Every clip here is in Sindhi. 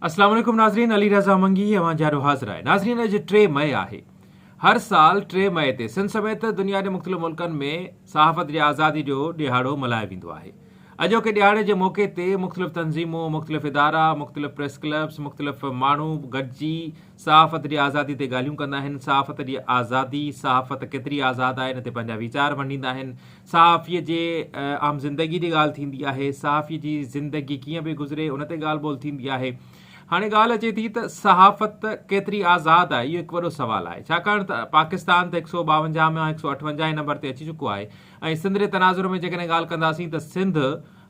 السلام عليڪم ناظرين علي رضا منگي هي اوهان جيارو حاضر آهي ناظرين اڄ ٽي مئي آهي هر سال ٽي مئي تي سنڌ سميت دنيا جي مختلف ملڪن ۾ صحافت جي آزادي جو ڏيهاڙو ملهايو ويندو آهي اڄوڪي ڏيهاڙي جي موقعي تي مختلف تنظيمون مختلف ادارا مختلف پريس ڪلبس مختلف ماڻهو گڏجي صحافت جي آزادي تي ڳالهيون ڪندا آهن صحافت جي آزادي صحافت ڪيتري آزاد آهي ان تي پنهنجا ويچار ونڊيندا آهن صحافيء جي عام زندگيء جي ڳالهه ٿيندي آهي، صحافيء جي زندگي ڪيئن پئي گذري، ان تي ڳالهه ٻولهه ٿيندي آهي. هاڻي ڳالهه اچي ٿي ته صحافت ڪيتري آزاد آهي، اهو هڪ وڏو سوال آهي، ڇاڪاڻ ته پاڪستان ته هڪ سئو ٻاونجاهه مان هڪ سئو اٺونجاهه هين نمبر تي اچي چڪو آهي ۽ سنڌ جي تناظر ۾ جيڪڏهن ڳالهه ڪنداسين ته سنڌ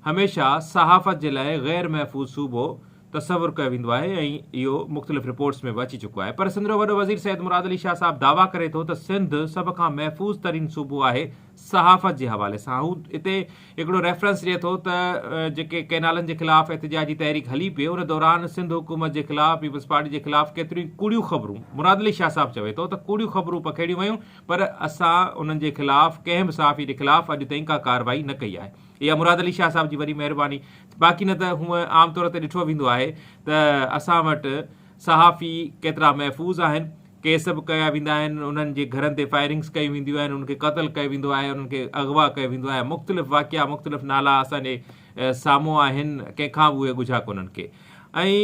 هميشه صحافت جي لاء غير محفوظ صوبو تصور ڪيو ويندو آهي ۽ اهو مختلف رپورٽس ۾ به اچي چڪو آهي پر سنڌ جو وڏو وزير سيد مراد علي شاهه صاحب دعويٰ ڪري ٿو ته سنڌ سڀ کان محفوظ ترين صوبو آهي صحافت جي حوالي سان هو اتي هڪڙو ريفرنس ڏئي ٿو ته جيڪي ڪئنالن جي خلاف احتجاجي تحريڪ هلي پئي ان دوران سنڌ حڪومت جي خلاف پيپلز پارٽي جي خلاف ڪيتريون ڪوڙيون خبرون مراد علي شاهه صاحب چوي ٿو ته ڪوڙيون خبرون پکيڙيون ويون پر اسان انهن جي خلاف ڪنهن به صحافي جي خلاف اڄ تائين ڪا ڪارروائي نه ڪئي آهي اها مراد علي شاهه صاحب جي وڏي مهرباني باقي نه ته هونئن عام طور تي ڏٺو ويندو آهي ته اسان وٽ صحافي ڪيترا محفوظ آهن، ڪيس به ڪيا ويندا آهن، انهن جي گهرن تي فائرنگز ڪيون وينديون آهن، انهن کي قتل ڪيو ويندو آهي، انهن کي اغوا ڪيو ويندو آهي، مختلف واقعا مختلف نالا اسان جي سامهون آهن، ڪنهن کان به اهي ڳجها ڪونهن ڪي ۽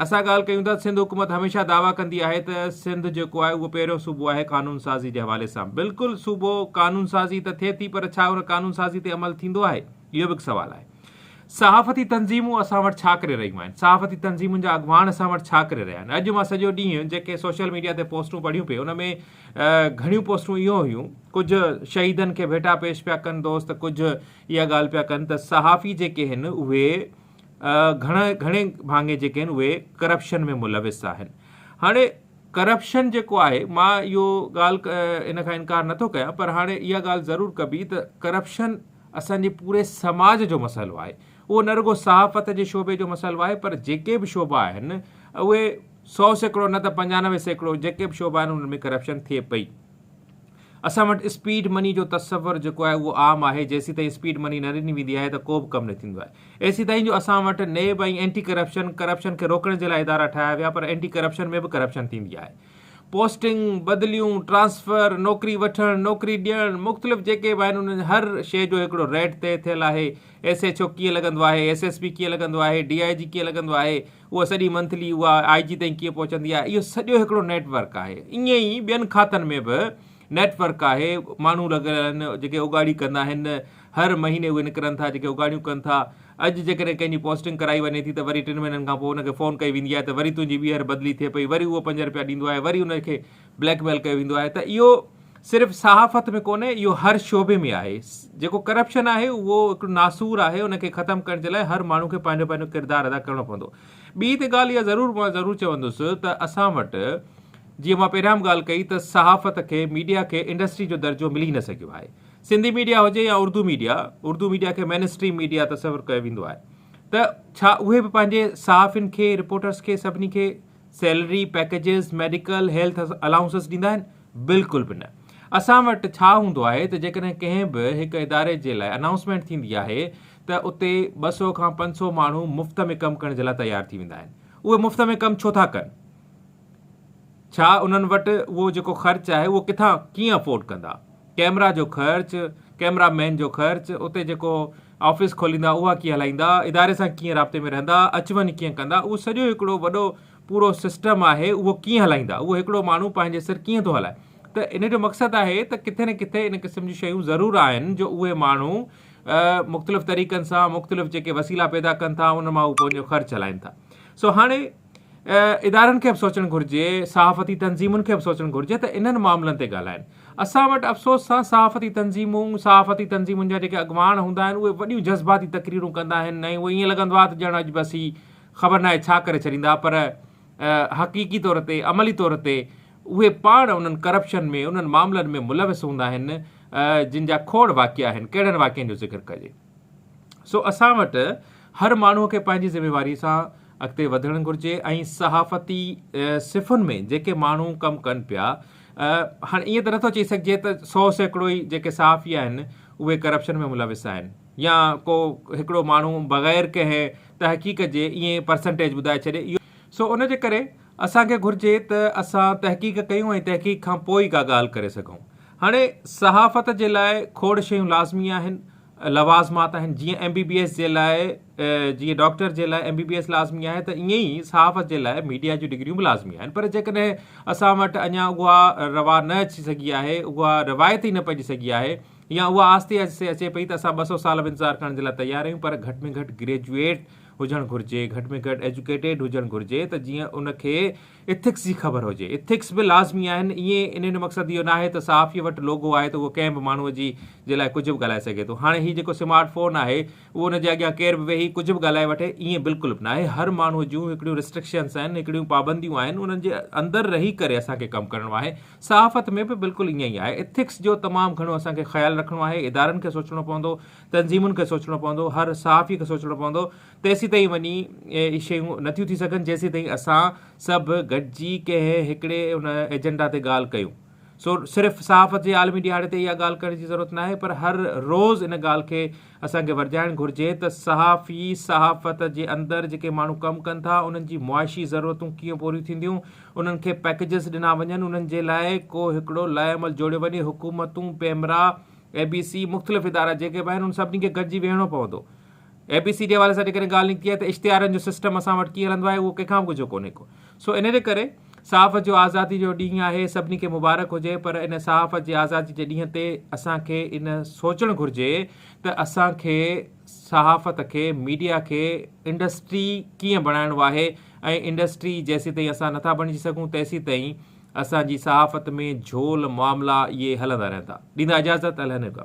اسان ڳالهه ڪيون ٿا سنڌ حڪومت هميشه دعويٰ ڪندي آهي ته سنڌ جيڪو آهي اهو پهريون صوبو آهي قانون سازي جي حوالي سان بلڪل صوبو قانون سازي ته ٿئي ٿي پر ڇا ان قانون سازي تي عمل ٿيندو آهي؟ اهو به هڪ سوال آهي. صحافتي تنظيمون اسان وٽ ڇا ڪري رهيون آهن؟ صحافتي تنظيمن جا اڳواڻ اسان وٽ ڇا ڪري رهيا آهن؟ اڄ مان سڄو ڏينهن جيڪي سوشل ميڊيا تي پوسٽون پڙهيون پئي ان ۾ گهڻيون پوسٽون اهو هيون ڪجهه شهيدن کي ڀيٽا پيش پيا ڪن دوست ڪجهه اها ڳالهه پيا ڪن ته صحافي جيڪي هن اهي گهڻ گهڻي ڀاڱي جيڪي هن اهي ڪرپشن ۾ ملوث آهن هاڻي ڪرپشن جيڪو آهي مان اهو ڳالهه ان کان انڪار نٿو ڪيان پر هاڻي اها ڳالهه ضرور ڪبي ته ڪرپشن اسان جي پوري سماج جو مسئلو آهي. اهو نه رڳو صحافت جي شعبي جو مسئلو آهي پر جيڪي به شعبا آهن اهي سؤ سيڪڙو نه ته پنجانوي سيڪڙو جيڪي به شعبا آهن انهن ۾ ڪرپشن ٿئي پئي. اسان وٽ اسپيڊ مني جو تصور جيڪو آهي اهو عام آهي جيسيتائين اسپيڊ مني نه ڏني ويندي آهي ته ڪو به ڪم نه ٿيندو آهي. ايسيتائين جو اسان وٽ نيب ۽ اينٽي ڪرپشن، ڪرپشن کي روڪڻ جي لاء ادارا ٺاهيا ويا پر اينٽي ڪرپشن ۾ به ڪرپشن ٿيندي آهي. پوسٽنگ، بدليون، ٽرانسفر، نوڪري وٺڻ، نوڪري ڏيڻ، مختلف جيڪي به آهن انهن هر شيء جو هڪڙو ريٽ طئي ٿيل آهي، ايس ايڇ او ڪيئن لڳندو آهي، ايس ايس پي ڪيئن لڳندو آهي، ڊي آء جي ڪيئن لڳندو آهي، اها سڄي منٿلي اها آء جي تائين ڪيئن پهچندي آهي، اهو سڄو هڪڙو نيٽ ورڪ آهي. ائين ئي ٻين کاتن ۾ به نيٽ ورڪ آهي، ماڻهو لڳل آهن جيڪي اوڳاڙي ڪندا آهن، هر مهيني اهي نڪرن ٿا جيڪي اگهاڙيون ڪن ٿا. اڄ جيڪڏهن ڪنهن جي پوسٽنگ ڪرائي وڃي ٿي ته وري ٽن مهينن کان پوء ان کي فون ڪئي ويندي آهي ته وري تنهنجي ٻيهر بدلي ٿئي پئي وري اهو پنج رپيا ڏيندو آهي وري ان کي بليڪ ميل ڪيو ويندو آهي ته اهو صرف صحافت ۾ ڪونهي اهو هر شعبي ۾ آهي جيڪو ڪرپشن آهي اهو هڪڙو ناسور آهي ان کي ختم ڪرڻ جي لاء هر ماڻهو کي پنهنجو پنهنجو ڪردار ادا ڪرڻو پوندو ٻي ته ڳالهه اها ضرور مان ضرور چوندس ته اسان وٽ جيئن مان پهريان به ڳالهه ڪئي ته صحافت کي ميڊيا کي انڊسٽري جو درجو ملي نه سگهيو آهي سنڌي ميڊيا هجي يا اردو ميڊيا، اردو ميڊيا کي مين اسٽريم ميڊيا تصور ڪيو ويندو آهي ته ڇا اهي به پنهنجي صحافين کي، رپورٽرز کي سڀني کي salary, packages, medical, health allowances ڏيندا آهن؟ بلڪل به نه. اسان وٽ ڇا هوندو آهي ته جيڪڏهن ڪنهن به هڪ اداري جي لاء انائونسمينٽ ٿيندي آهي ته اتي ٻه سؤ کان پنج سؤ ماڻهو مفت ۾ ڪم ڪرڻ جي لاء تيار ٿي ويندا آهن. اهي مفت ۾ ڪم ڇو ٿا ڪن؟ ڇا انهن وٽ اهو جيڪو خرچ آهي اهو ڪٿان ڪيئن افورڊ ڪندا. ڪيمرا جو خرچ، ڪيمرا مين جو خرچ، اتي جيڪو آفيس کوليندا اها ڪيئن هلائيندا، اداري سان ڪيئن رابطي ۾ رهندا، اچ وڃ ڪيئن ڪندا اهو سڄو هڪڙو وڏو پورو سسٽم آهي اهو ڪيئن هلائيندا اهو هڪڙو ماڻهو پنهنجي سر ڪيئن ٿو هلائي ته ان جو مقصد آهي ته ڪٿي نه ڪٿي ان قسم جون شيون ضرور آهن جو اهي ماڻهو مختلف طريقن سان مختلف جيڪي وسيلا پيدا ڪن ٿا ان مان هو پنهنجو خرچ هلائين ٿا سو هاڻي ادارن کي به سوچڻ گهرجي، صحافتي تنظيمن کي به سوچڻ گهرجي ته انهن معاملن تي ڳالهائين. اسان وٽ افسوس سان صحافتي تنظيمون، صحافتي تنظيمن جا جيڪي اڳواڻ هوندا آهن اهي وڏيون جذباتي تقريرون ڪندا آهن ۽ اهو ائين لڳندو آهي ته ڄڻ اڄ بس هي خبر ناهي ڇا ڪري ڇڏيندا پر حقيقي طور تي عملي طور تي اهي پاڻ انهن ڪرپشن ۾ انهن معاملن ۾ ملوث هوندا آهن جن جا کوڙ واقعا آهن ڪهڙن واقعن جو ذڪر ڪجي. سو اسان وٽ هر ماڻهو کي پنهنجي ذميواري سان اڳتي وڌڻ گهرجي ۽ صحافتي صفن ۾ جيڪي ماڻهو ڪم ڪن پيا هاڻي ائين ته نٿو چئي سگهجي ته سو سيڪڙو ئي جيڪي صحافي آهن اهي ڪرپشن ۾ ملوث آهن يا ڪو هڪڙو ماڻهو بغير ڪنهن تحقيق جي ائين پرسنٽيج ٻڌائي ڇڏي اهو سو ان جي ڪري اسان کي گهرجي ته اسان تحقيق ڪيون ۽ تحقيق کان پوء ئي ڪا ڳالهه ڪري سگهون. هاڻي صحافت جي لاء کوڙ شيون لازمي آهن، لوازمات آهن، جيئن ايم بي بي ايس جي لاء جيئن ڊاڪٽر جي لاء ايم بي بي ايس لازمي آهي ته ائين ئي صحافت جي لاء ميڊيا جون ڊگريون به لازمي آهن پر جيڪڏهن اسان وٽ اڃا اها روا نه اچي سگهي آهي، اها روايت ئي نه پئجي سگهي آهي يا اها آهستي آهستي اچي پئي ته اسان ٻه سؤ سال به انتظار ڪرڻ جي لاء تيار آهيون پر گهٽ ۾ گهٽ گريجوئيٽ هجڻ گهرجي، گهٽ ۾ گهٽ ايجوڪيٽيڊ هجڻ گهرجي ته جيئن ان کي ايٿڪس جي خبر هجي. ايٿڪس به لازمي آهن. ائين انهن جو مقصد اهو ناهي ته صحافيء وٽ لوگو آهي ته اهو ڪنهن به ماڻهوء جي جي لاء ڪجهه به ڳالهائي سگهي ٿو. هاڻي هي جيڪو سمارٽ فون آهي اهو ان جي اڳيان ڪير به ويهي ڪجهه به ڳالهائي وٺي ائين بلڪل به ناهي. هر ماڻهوء جون هڪڙيون رسٽرڪشنس آهن هڪڙيون پابنديون آهن انهن جي اندر رهي ڪري اسان کي ڪم ڪرڻو آهي. صحافت ۾ به بلڪل ائين ئي آهي. ايٿڪس جو تمام گهڻو اسان کي خيال رکڻو آهي. ادارن کي سوچڻو پوندو، تنظيمن کي سوچڻو پوندو، هر صحافي کي سوچڻو پوندو تيسيتائين وڃي اهي شيون نٿيون ٿي سگهن جيسيتائين اسان سڀ گڏجي ڪنهن هڪڙي ان ايجنڊا تي ڳالهه ڪيون. سو صرف صحافت جي عالمي ڏهاڙي تي اها ڳالهه ڪرڻ جي ضرورت ناهي پر هر روز ان ڳالهه کي اسان کي ورجائڻ گهرجي ته صحافي صحافت جي اندر جيڪي ماڻهو ڪم ڪن ٿا انهن جي معاشي ضرورتون ڪيئن پوريون ٿينديون انهن کي پئڪيجز ڏنا وڃن انهن جي لاء ڪو هڪڙو لائحهعمل جوڙيو وڃي حڪومتون پيمرا اي بي سي مختلف ادارا جيڪي به آهن انهن سڀني کي گڏجي ويهڻو پوندو اي بي سي جي حوالي سان جيڪڏهن ڳالهه نڪتي آهي ته اشتهارن جو سسٽم اسان وٽ ڪيئن هلندو آهي اهو ڪنهن کان به ڳجهو ڪونهي ڪو سو ان جي ڪري صحافت جو آزادي جو ڏينهن آهي سڀني کي مبارڪ هجي پر ان صحافت جي آزادي جي ڏينهن تي اسان کي ان سوچڻ گهرجي ته اسان کي صحافت کي ميڊيا کي انڊسٽري ڪيئن بڻائڻو آهي ۽ انڊسٽري جيسي تائين اسان نٿا بڻجي سگهون تيسي تائين اسان جي صحافت ۾ جھول معاملا اهي هلندا رهندا ڏيندا اجازت الهنڪم.